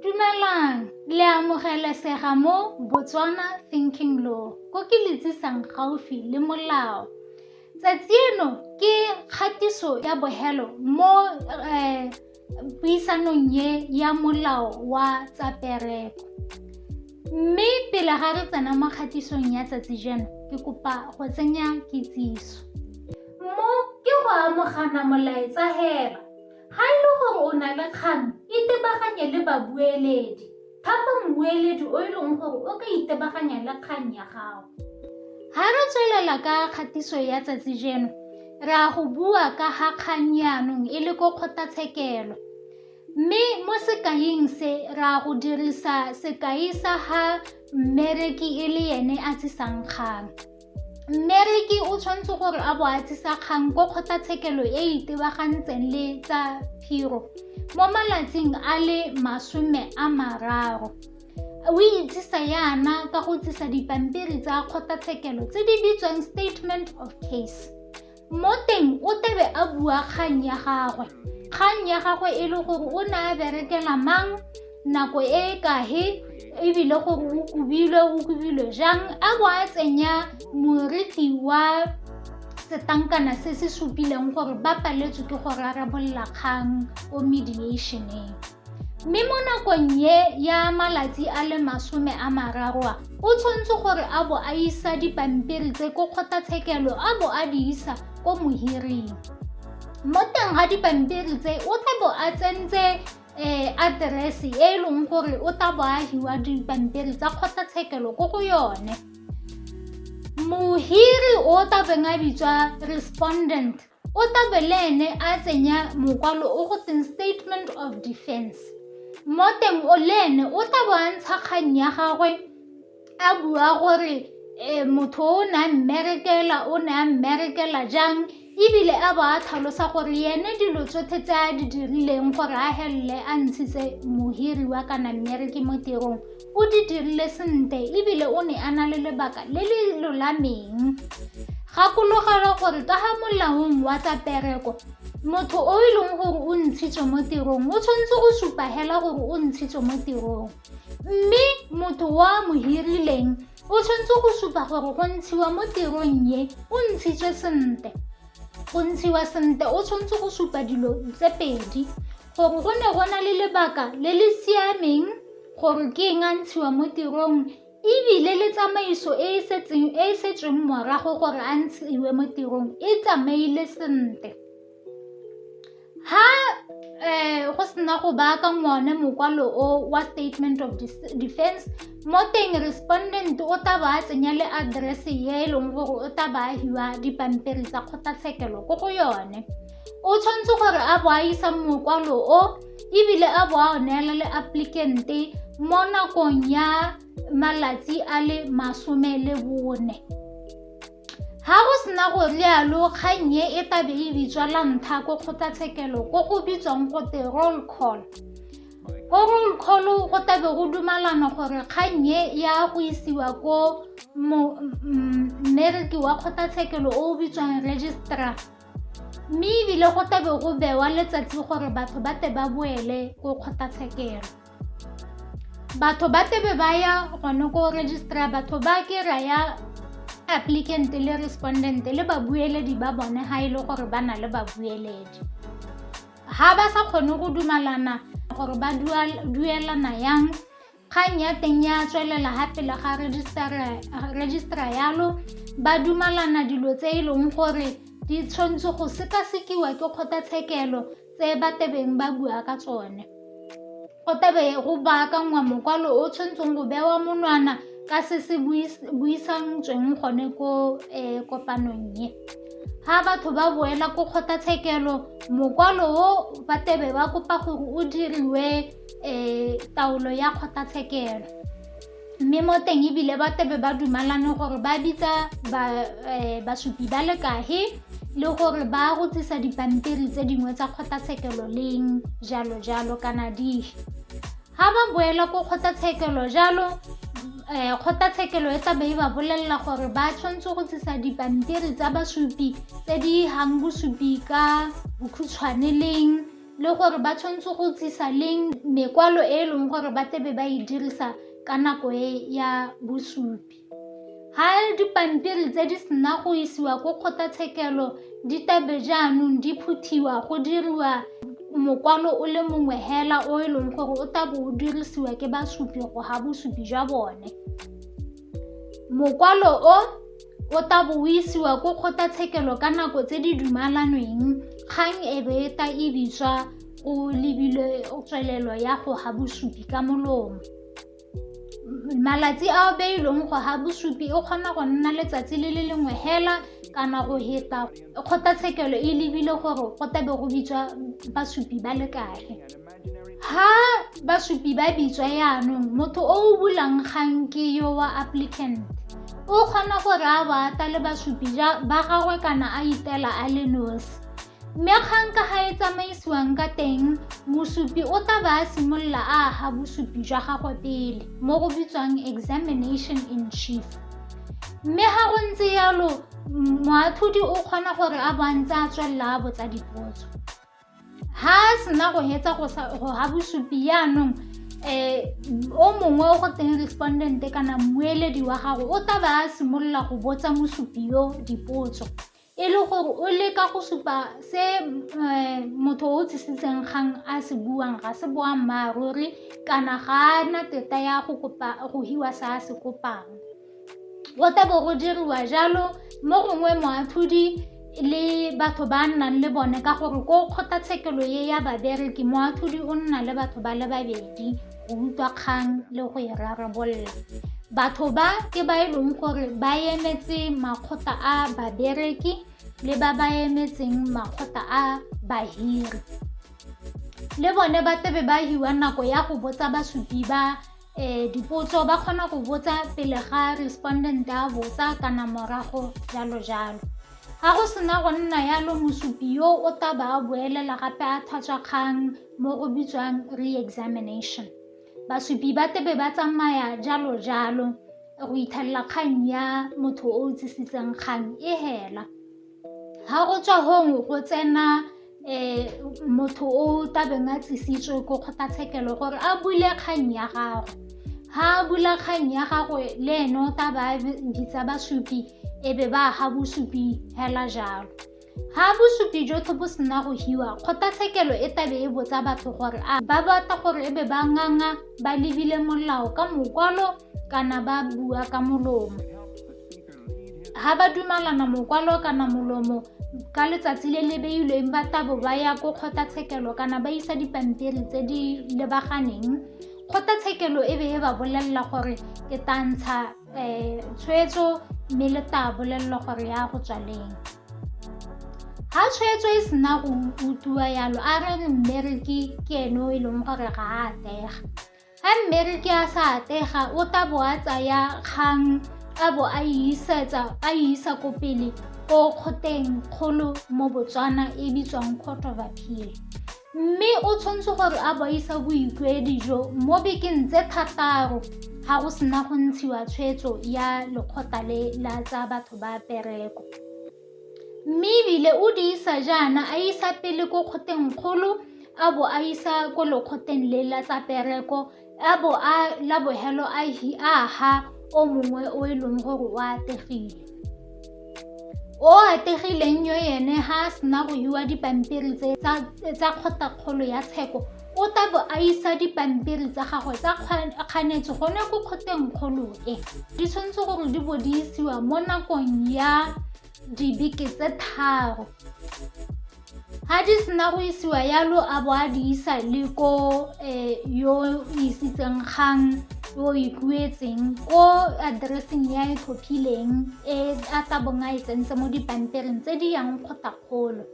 Dumelang, le amogelesega mo Botswana Thinking Law ko ke le tsisang gaufi le molao. Tsatsi eno ke kgatiso ya bohelo mo eh, puisanong ye ya molao wa tsa pereko. Mme pele ga re tsena mo kgatisong ya tsatsi jeno, ke kopa go tsenya kitsiso. Mo ke go amogana molaetsa heba Ga e le gore o na le kgang, itebaganye le babueledi. Thapa mmueledi o e leng gore o ka itebaganya le kgang ya gago. Ga re tswelela ka kgatiso ya tsatsi jeno, re a go bua ka ga kgang yaanong e le ko kgotlatshekelo. Mme mo sekaing se, re a go dirisa sekai sa ga mmereki e le ene a tsisang kgang. mmereki o tshwanetse gore a bo a tsisa kgang ko kgotlatshekelo e e itebagantseng le tsa phiro mo malatsing a le masome a mararo o itsisa yana ka go tsisa dipampiri tsa kgotlatshekelo tse di bitswang statement of case Mo teng o tebe a bua kgang ya gagwe. Kgang ya gagwe e le gore o ne a berekela mang, nako e e kahe, ebile gore o kubilwe o kubilwe jang a bo a tsenya moritli wa setankana se se supileng gore ba paletswe ke go rarabolola kgang ko mediationeng. Mme mo nakong ye ya malatsi a le masome a mararo a, o tshwanetse gore a bo a isa dipampiri tse ko kgotlatshekelo a bo a di isa ko mohiring. Mo teng ga dipampiri tse o tla bo a tsentse um aterese e e leng gore o tla bo a hiwa dipampiri tsa kgotlatshekelo ko go yone. Mohiri o tla beng a bitswa respondent o tabe le ene a tsenya mokwalo o go teng statement of defense mo teng o le ene o tla bo a ntsha kgang ya gagwe a bua gore um motho o ne a mmerekela o ne a mmerekela jang ebile a bo a tlhalosa gore yene dilo tsotlhe tse a di dirileng gore a helele a ntshitse mohiri wa kana mmereke mo tirong o di dirile sentle ebile o ne a na le lebaka le le lolameng gakologelwa gore ka ga molaong wa tsa pereko motho o e leng gore o ntshitswe mo tirong o tshwanetse go supa hela gore o ntshitswe mo tirong mme motho wa mo hirileng o tshwanetse go supa gore go ntshiwa mo tirong ye o ntshitswe sentle go ntshiwa sentle o tshwanetse go supa dilo tse pedi Gore go ne go na le lebaka le le siameng gore ke eng a ntshiwa mo tirong e bile le tsamaiso e e setseng e e setsweng morago gore a ntshiwe mo tirong e tsamaile sentle ha um go sena go baaka ngone mokwalo o wa statement of defense mo teng respondent o tla ba a tsenya le address e e leng gore o tla ba a hiwa dipampiri tsa kgotlatshekelo ko go yone o tshwanetse gore a bo a isa mokwalo o ebile a bo a o neela le applicante mo nakong ya malatsi a le masome le bone ha go sena go lealo kgang e e tabe e bitswa la ntlha ko kgotlatshekelo ko go bitswang go te roll call ko roll call go tabe go dumalana gore kgang e ya go isiwa ko mmereki wa kgotlatshekelo o o bitswang registrar mme ebile go tlabe go bewa letsatsi gore batho ba te ba boele ko kgotlatshekelo batho ba tebe ba ya gone ko registrar batho ba ke ra ya applicant le respondent le babueledi ba bone ga e le gore ba na le babueledi ga ba sa kgone go dumalana gore ba duelana yang Kgang ya teng ya tswelela ga pele ga rejisetara yalo ba dumalana dilo tse e leng gore di tshwanetse go sekasekiwa ke kgotlatshekelo tse ba tebeng ba bua ka tsone go tebe go baakangwa mokwalo o tshwanetseng go bewa monwana ka se se buisantsweng gone ko um kopanong ye ga batho ba boela ko kgotlatshekelo mokwalo o ba tebe ba kopa gore o diriwe um taolo ya kgotlatshekelo mme mo teng ebile ba tebe ba dumalane gore ba bitsa eh, basupi ba le kahe le gore ba rotsisa dipampiri tse dingwe tsa kgotlatshekelo leng jalo jalo kana dihe ga ba boela ko kgotlatshekelo jalo eh, kgotlatshekelo e tlabe e ba bolelela gore ba tshwanetse go tsisa dipampiri tsa basupi tse di gang bosupi ka bokhutshwane leng le gore ba tshwanetse go tlisa leng mekwalo e e leng gore ba tlebe ba e dirisa ka nako e ya bosupi ha dipampiri tse di sena go isiwa ko kgotlatshekelo di tabe jaanong di phuthiwa go diriwa mokwalo o le mongwe hela o e leng gore o tabo o dirisiwa ke basupi go ga bosupi jwa bone Mokwalo o o ta bo o isiwa ko kgotlatshekelo ka nako tse di dumalanweng kgang e be e ta e bitswa o lebile tswelelo ya go ga bosupi ka molomo. Malatsi a o beilweng go ga bosupi e kgona go nna letsatsi le le lengwe hela kana go heta kgotlatshekelo e lebile gore go tla be go bitswa basupi ba le kae. ha basupi ba bitswa yaanong motho o o bulang kgang ke yo wa applicant o kgona gore a ba ata le basupi ba gagwe kana a itela a le nosi mme kgang ka ga e tsamaisiwang ka teng mosupi o tla ba a simolola a aga bosupi jwa gagwe pele mo go bitswang examination in chief mme ga go ntse yalo moathodi o kgona gore a bontse a tswelela a botsa dipotso ha a sena go hetsa go ga bosupi yaanong um o mongwe o go teng respondent kana mmueledi wa gago o tla ba a simolola go botsa mosupi yo dipotso e le gore o leka go supa se um motho o tsisitseng kgang a se buang ga se boammaaruri kana ga a na teta ya go kopa go hiwa se a se kopang go tla bo go diriwa jalo mo gongwe moatlhodi le batho ba nnang le bone ka gore ko kgotlatshekelo ye ya babereki moatlhodi o nna le batho ba le babedi go utlwa kgang le go e rarabolola batho ba ke ba e leng gore ba emetse makgotla a babereki le ba ba emetseng makgotla a bahiri le bone ba tsebe ba hiwa nako ya go botsa basupi ba um dipotso ba kgona go botsa pele ga respondent a botsa kana morago jalo jalo ga go sena go nna yalo mosupi yo o tla ba a boelela gape a thatswa kgang mo go bitswang re-examination basupi ba tebe ba tsamaya jalo jalo go ithelela kgang ya motho o o tsisitseng kgang e hela ga o tswa gongwe go tsena um motho o tabeng a tlisitswe ko kgotlatshekelo gore a bule kgang ya gagwe ga a bula kgang ya gagwe le ene o taba a bitsa basupi e be ba ga bosupi hela jalo ga bosupi jotlhe bo sena go hiwa kgotlatshekelo e tabe e botsa batho gore a ba batla gore e be ba nganga ba lebile molao ka mokwalo kana ba bua ka molomo ga ba dumalana mokwalo kana molomo ka letsatsi le le beilweng ba tabo ba ya ko kgotlatshekelo kana ba isa dipampiri tse di lebaganeng kgotlatshekelo e be e ba bolelela gore ke tantsha um eh, tshwetso mme le ta bolelelwa gore ya go tswaleng ga tshwetso e sena go utlwiwa yalo a re mmereki ke ene o e leng gore ga a atega Ga mmereki a sa atlega o tla bo a tsaya kgang a bo a isetsa a isa ko pele ko kgoteng kgolo mo Botswana e bitswang Court of Appeal mme o tshwanetse gore a boisa boikuedi jo mo bekeng tse thataro ga go sena go ntshiwa tshwetso ya lekgotla le la tsa batho ba pereko. Mme e bile o di isa jaana a isa pele ko kgoteng kgolo a bo a isa ko lekgotleng le la tsa pereko a bo a la bogelo a ha o mongwe o e leng gore o ategile. O ategileng yo ene ha a sena go hiwa dipampiri tse tsa kgotla kgolo ya tsheko o tla bo a isa dipampiri tsa gagwe tsa kganetso gone ko kgoteng kgolo e di tshwanetse gore di bo di isiwa mo nakong ya dibeke tse tharo ga di sena go isiwa yalo a bo a di isa le ko eh, yo isitseng kgang yo ikuetseng ko addresseng ya e tlhophileng e a tla bong a e tsentse mo dipampiring tse di yang kgotakgolo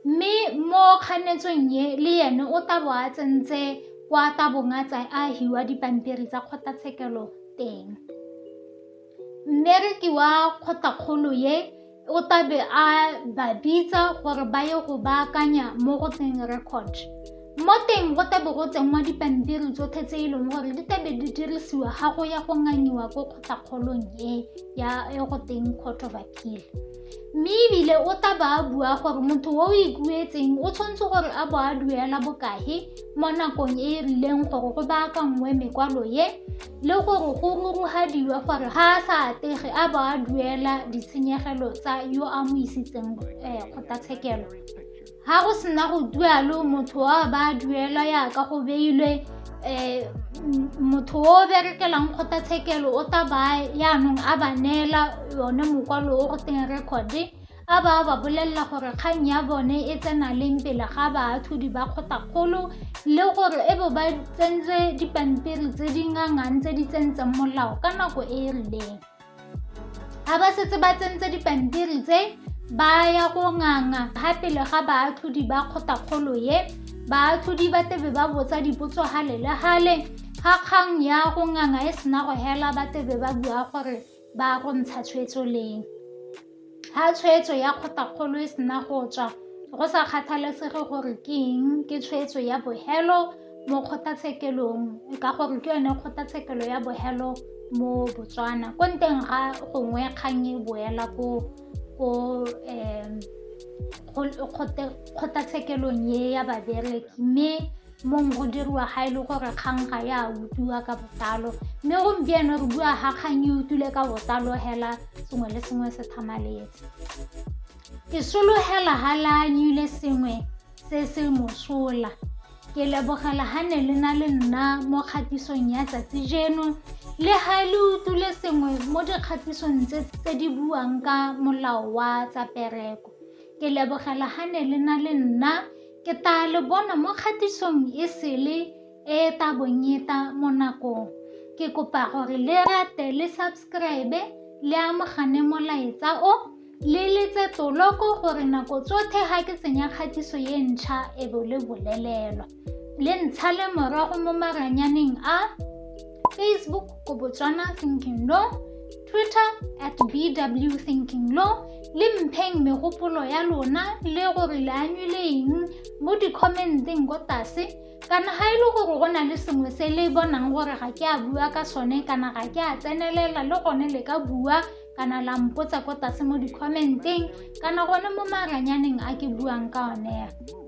Mme mo kganetsong ye le ene o tla bo a tsentse kwa tabong a tsa a hiwa dipampiri tsa kgotlatshekelo teng mmereki wa kgotlakgolo ye o tabe a ba bitsa gore ba ye go baakanya mo go tseng record mo teng go tabe go tsenngwa dipampiri tsotlhe tse e leng gore di tabe di dirisiwa ga go ya go nganyiwa ko kgotlakgolong e ya e go teng court of appeal Mme ebile o tla ba a bua gore motho o o ikuetseng o tshwanetse gore a bo a duela bokae mo nakong e e rileng gore go baakanngwe mekwalo ye le gore go rurugadiwa gore ga a sa atege a bo a duela ditshenyegelo tsa yo a mo isitseng kgotlatshekelo. ga go sena go dualo motho wa ba duelwa yaka go beilwe um motho o berekelang kgotlatshekelo o ta ba yaanong a ba neela yone mokwalo o go teng record-e a ba ba bolelela gore kgang ya bone e tsena leng pele ga baathodi ba kgotakgolo le gore e bo ba tsentse dipampiri tse di ngangang tse di tsentseng molao ka nako e e rileng ga ba setse ba tsentse dipampiri tse ba ya go nganga ga pele ga baatlhodi ba kgotakgolo ye baatlhodi ba tebe ba botsa dipotso gale le gale ga kgang ya go nganga e sena go hela ba tebe ba bua gore ba go ntsha tshwetso leng Ga tshwetso ya kgotakgolo e sena go tswa, go sa kgathalesege gore ke eng, ke tshwetso ya bogelo mo kgotatshekelong ka gore ke yone kgotatshekelo ya bogelo mo Botswana. Ko nteng ga gongwe kgang e boela ko kgotatshekelong e ya babereki mme mong go diriwa ga e le gore kgang ga ya utlwiwa ka botlalo mme gompieno re bua ga kgang e utlwile ka botlalo hela sengwe le sengwe se thamaletse ke sologela ga leanyile sengwe se se mosola ke lebogela ga ne le na le nna mo kgatisong ya tsatsi jeno le ga le utlwile sengwe mo dikgatisong tse tse di buang ka molao wa tsa pereko ke lebogela ga ne le na le nna Ke taa le bona mo kgatisong e sele e e ta bong e ta mo nakong. Ke kopa gore le rate le subscribe le amogane molaetsa o le letse toloko gore nako tsotlhe ga ke tsenya kgatiso e ntšha e bo le bolelelwa le ntsha le morago mo maranyaneng a facebook ko botswana thinking no Twitter at BW Thinking Law le mpheng megopolo ya lona le gore le anywile eng mo di-commenteng ko tlase kana ga e le gore go na le sengwe se le bonang gore ga ke a bua ka sone kana ga ke a tsenelela le gone le ka bua kana la mpotsa ko tlase mo di-commenteng kana gone mo maranyaneng a ke buang ka one